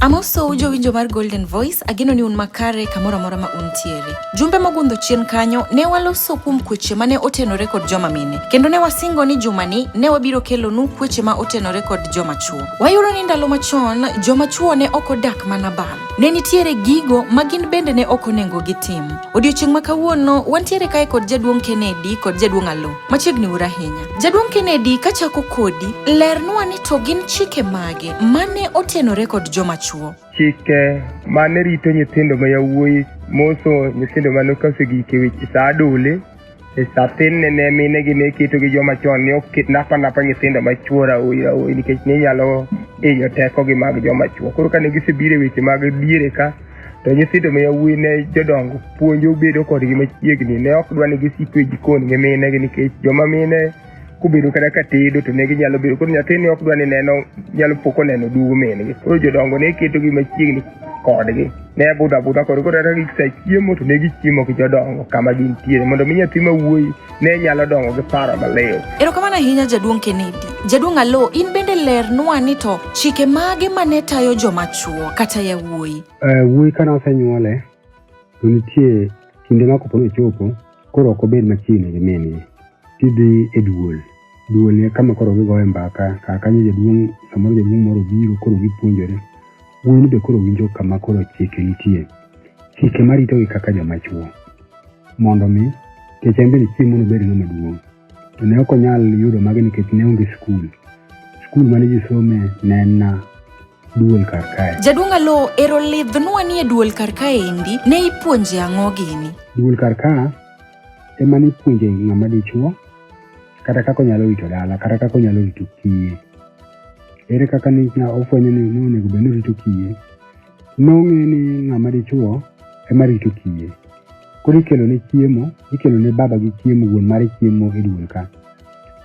Amoso jowinjo mar Golden Voice, ageno ni un makare kamoro amora ma untiere. Jumbe mogundho chien kanyo, ne waloso kuom kweche mane otenore kod joma mine, kendo ne wasingo ni jumani ne wabiro kelonu kweche ma otenore kod joma chwo. Wayudo ni ndalo machon, joma chwo ne ok odak mana bal. Ne nitiere gigo ma gin bende ne ok onengo gitim. Odiochieng' ma kawuono, wantiere kae kod jaduong' Kennedy kod jaduong' Alo. Machiegni ura ahinya. Jaduong' Kennedy kachako kodi, lernwa ni to gin chike mage mane otenore kod joma chwo? Chike mane rito nyithindo ma yawuoyi moso nyithindo mane okasegike weche sa adole e sa thinne ne mine gi ne keto gi joma chon ne ok napa napa nyithindo ma chwo raoyi raoyi nikech ne nyalo inyo tekogi mag joma chwo. Koro kane gisebiro e weche mag diere ka To nyithindo ma yawuoyi ne jodongo puonjo bedo kodgi machiegni. Ne ok dwa ni gisiko e jikon gi mine gi nikech joma mine kubedo kata ka tedo to ne ginyalo bedo koro nyathini ok dwa ni neno nyalo pok oneno dugu min gi koro jodongo ne ketogi machiegni kodgi ne budho abudha kod koro kata gisechiemo to ne gichiemo gi jodongo kama gintiere mondo mi nyathi ma wuoyi ne nyalo dongo gi paro maliw. Erokamano ahinya Jaduong' Kennedy. Jaduong' Alo, in bende lernwa ni to chike mage ma ne tayo joma chwo kata yawuoyi? Eh, wuoyi ka nosenyuole to nitie kinde ma kopo nochopo koro ok obed machiegni gi min-gi tidhi e duol. duonie kama koro gigoye mbaka kar kanyo jaduong' samoro jaduong' moro biro koro gipuonjore wuoyini be koro winjo kama koro chike nitie chike maritogi kaka joma chuo mondo mi kech en bende chiemo nobed ng'ama duong' to ne ok onyal yudo magi nikech ne onge skul skul mane ji some ne en na duol kar kae. Jaduong' Alo, ero lidhnwa ni e duol kar kae endi, ne ipuonje ang'o gini? Duol kar ka ema nipuonje ng'ama dichuo kata kaka onyalo rito dala kata kaka onyalo rito kiye. Ere kaka ni na ofwenyo ni ne onego bed ni orito kiye? Nong'e ni ng'ama dichuo ema rito kiye. Koro ikelo ne chiemo, ikelo ne baba gi chiemo, wuon mare chiemo e duol ka.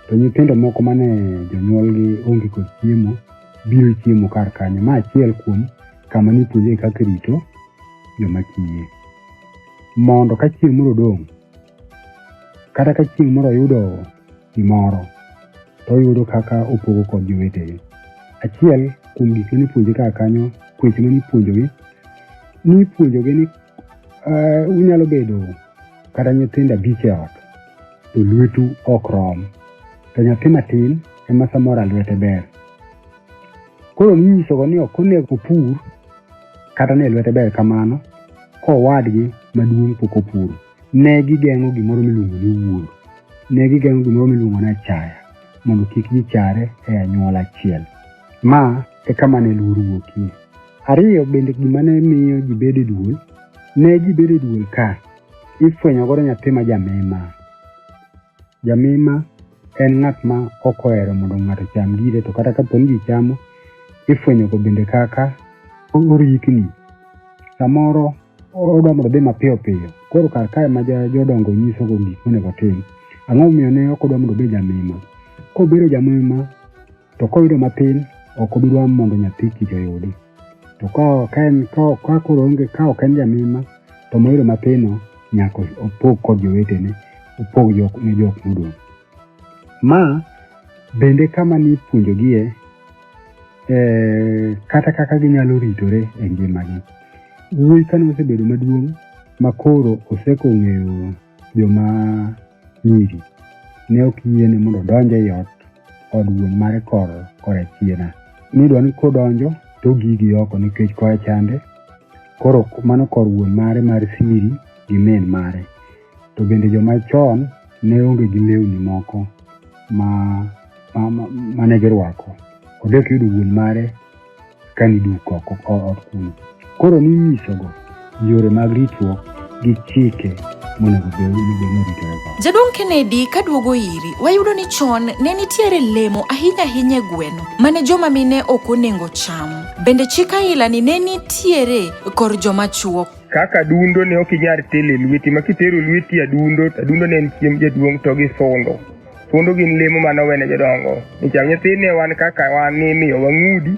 To nyithindo moko mane jonyuolgi onge kod chiemo biro chiemo kar kanyo. Ma achiel kuom kama nipuonje kaka rito joma kiye. Mondo ka chieng' moro odong', kata ka chieng' moro oyudo gimoro, to oyudo kaka opogo kod jowetegi. Achiel kuom gik ma nipuonje kar kanyo, weche ma nipuonjogi, nipuonjogi ni eh, unyalo bedo kata nyithindo abich e ot, to lwetu ok rom, to nyathi matin ema samora lwete ber. Koro ninyisogo ni ok onego opur kata ne lwete ber kamano kowadgi maduong' pok opuro. Ne gigeng'o gimoro miluongo ni wuoro, ne gigeng'o gimoro miluongo ni achaya mondo kik gichare e anyuola achiel. Ma e kama ne luor wuokie. Ariyo bende gima ne miyo ji bedo e duol, ne ji bedo e duol ka ifwenyo godo nyathi ma jamima. Jamima en ng'at ma ok ohero mondo ng'ato ocham gire to kata kapo ni ji chamo, ifwenyogo bende kaka orikni. Samoro odwa mondo odhi mapiyo piyo, koro kar kae ma jodongo nyisogo gik monego otim, ang'o momiyo ne ok odwa mondo obed jamima? Kobedo jamima, To koyudo matin, ok obi dwaro mondo nyathi kich oyudi. To ka ok en ka ka koro onge ka ok en jamima to moyudo mapino nyaka opog kod jowetene opog jok ne jok modong'. Ma bende kama nipuonjogie eh, kata kaka ginyalo ritore e ngimagi. Wuoyi kane osebedo maduong' makoro oseko ng'eyo joma nyiri. Ne ok yiene mondo odonj ei ot od wuon mare kor korachiena. Nidwa ni kodonjo to ogigi oko nikech koa chande koro mano kor wuon mare mar siri gi min mare. To bende joma chon ne onge gi lewni moko ma, ma, ma, ma ne girwako. Odok yudo wuon mare ka niduk oko ot kuno. Koro ninyisogo yore mag ritruok gi chike monego bed ni oritorego. Jaduong' Kennedy ka duogo iri, wayudo ni chon ne nitiere lemo ahinya ahinya e gweno mane joma mine ok onengo cham. Bende chik ailani ne nitiere kor joma chuo. Kaka adundo ne ok inyal telo e lweti ma kitero lweti adundo, adundo ne en chiemb jaduong' to gi sundo. Thuondo gin lemo mane owene jodongo. Nicham nyithindni wan kaka wan ni imiyo wang'udi,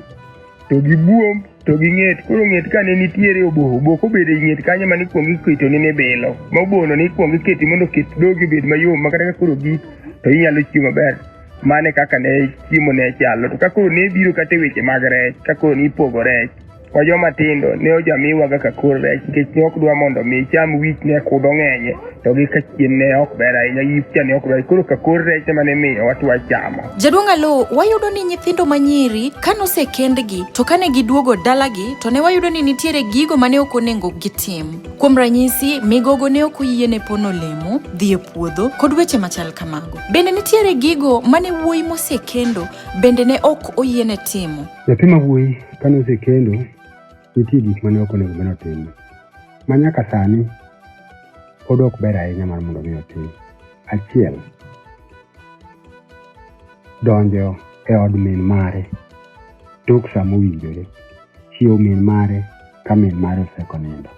to gi buomb, to gi ng'et. Koro ng'et ka ne nitiere oboho, oboho kobedo e ng'et kanyo mane ikwongo iketo ni nibilo. Ma obohono ne ikwongo iketi mondo oket dhogi obed mayom ma kata ka koro gik to inyalo chiemo maber. Mano e kaka ne chiemo ne chalo. To ka koro ne biro kata e weche mag rech, ka koro ne ipogo rech, Kwa joma tindo ne ojamiwa kaka kor rech nikech ne ok dwa mondo omi icham wich ne kudho ng'enye to gi ka chien ne ok ber ahinya yipcha ne ok ber koro ka kor rech ema ne miyo watwa chamo. Jaduong' Alo, wayudo ni nyithindo ma nyiri ka nosekendgi to kane giduogo dalagi to ne wayudo ni nitiere gigo ma ne ok onego gitim. Kuom ranyisi, migogo ne ok oyie ne pono olemo, dhi e puodho kod weche machal kamago. Bende nitiere gigo ma ne wuoyi mosekendo bende ne ok oyiene timo. Nyathi ma wuoyi Ka nosekendo, nitie gik ma ne ok onego bed notimo, ma nyaka sani pod ok ber ahinya mar mondo mi otim. Achiel, donjo e od min mare tok sa mowinjore, chiewo min mare ka min mare osekonindo.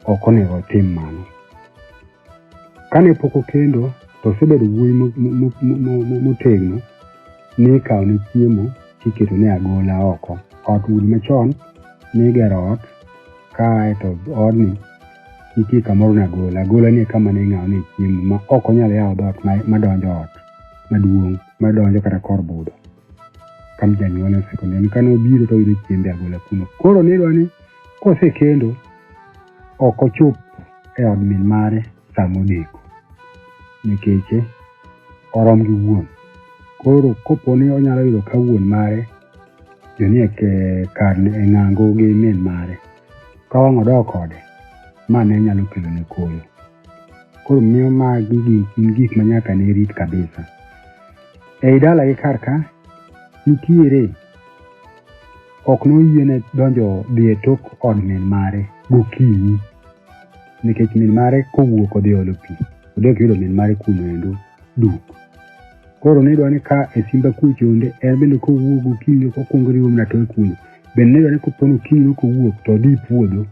Ok onego otim mano. Kane pok okendo to osebedo wuoyi motegno ni ikawo ne chiemo tiketo ne agola oko. Ot udi machon nigero ot kae to odni nitie kamoro ne agola. Agola ni kama ne ing'awo ne chiemo ma ok onyal yawo dhoot madonjo ot maduong' madonjo kata kor budho. ka ne janyuolne osekonde ni kane obiro to oyudo chiembe agola kuno. Koro ne idwa ni kosekendo ok ochop e od min mare sama odeko nikech eh, orom gi wuon. Koro kopo ni onyalo yudo ka wuon mare jonie ke- kar e ng'ango gi min mare ka wang' odok kode ma ne nyalo kelo ne koyo. Koro miyo magi gin gin gik ma nyaka ne rit kabisa. Ei dalagi kar ka, nitiere ok noyiene donjo dhi e tok od min mare gokinyi nikech min mare kowuok odhi olo pi odok yudo min mare kuno endo duk koro nidwa ni ka e simba kucho onde en bende kowuok gokinyi kokwongo riwo mna toe kuno bende nidwa ni kopono okinyi kowuok to odhi puodho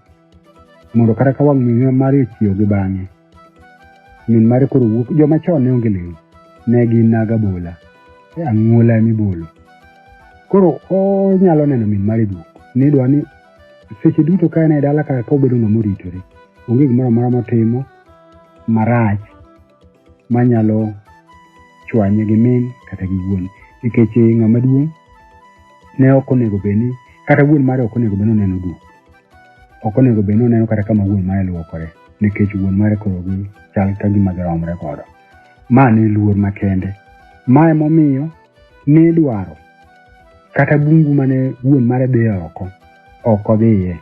mondo kata ka wang' min mare ochiew gi bang'e min mare koro wuok joma chon ne onge lewni ne gin naga bola e ang'uola ema ibolo koro onyalo neno min mare duok ni dwa ni seche duto ka en e dala ka obedo ng'ama oritore onge gimoro amora motimo marach manyalo chwanye gi min kata gi wuon nikech ng'ama duong' ne ok onego bed ni kata wuon mare ok onego bed ni oneno duong' Ok onego bed ni oneno kata kama wuon mare luokore nikech wuon mare koro gi chal ka gima giromre godo. Ma ne luor makende. Ma emomiyo ne dwaro kata bungu mane wuon mare dhi oko ok odhiye.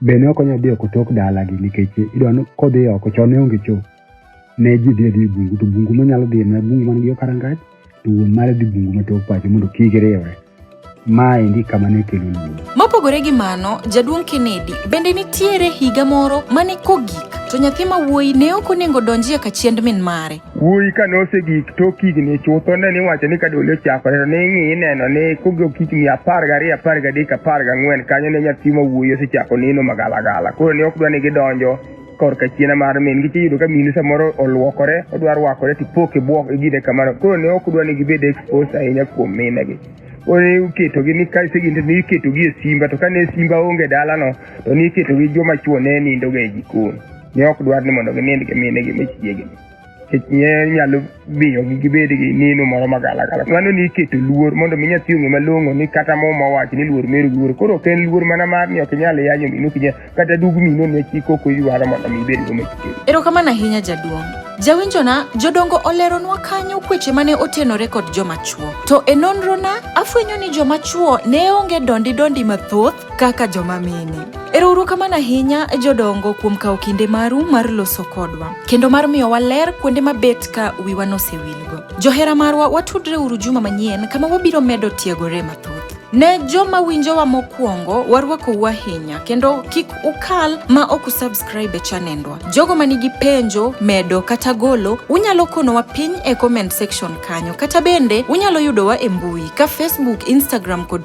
Be ne ok onyal dhi oko tok dalagi nikech idwa ni kodhi oko chon ne onge choo. ne ji dhi adhi e bungu to bungu manyalo dhiye ma bungu man gi yo karangach to wuon mare dhi bungu ma tok pacho mondo kik riwre ma endi kama ne kelo luoro Mopogore gi mano, jaduong' Kennedy bende nitiere higa moro mane kogik to nyathi ma wuoyi ne ok onego donjie kachiend min mare. wuoyi ka nosegik tok higni chutho ne niwacho ni ka dole ochakore to ning'i ineno ni kogok higni apar gariyo apar gadek apar gang'wen kanyo ne nyathi ma wuoyi osechako neno magalagala koro ne ok dwa ni gidonjo korka chiena mar min gi tiyudo ka minu samoro olwokore odwa rwakore tipok e bwok gine kamano koro ne ok dwa ni gibed expose ahinya kuom minegi koro ne iketogi ni ka seginde ne iketogi e simba to kane simba onge dalano to ne iketogi joma chuo ne nindoga e jikon ne ok dwar ni mondo ginind gi minegi machiegni nikech ne nyalo miyogi gibed gi neno moro magalagala mano ni iketo luor mondo mi nyathi ong'e malong'o ni kata muma owacho ni luor meru luor koro ok en luor mana mar ni ok inyal yanyo mino kinya kata dug mino ne chik ok oywaro mondo mi ibed go machiegni erokamano ahinya jaduong' jawinjona jodongo oleronwa kanyo kweche mane otenore kod joma chwo to e nonrona afwenyo ni joma chwo ne onge dondi dondi mathoth kaka joma mine. Erouru kamano ahinya jodongo kuom kawo kinde maru mar loso kodwa kendo mar miyo waler kuonde mabet ka wiwa nosewilgo. Johera marwa watudre uru juma manyien kama wabiro medo tiegore mathoth. Ne joma winjowa mokwongo warwakou ahinya kendo kik ukal ma ok usubscribe e chanendwa. Jogo ma nigi penjo, medo kata golo, unyalo konowa piny e comment section kanyo kata bende unyalo yudowa e mbui ka Facebook, Instagram kod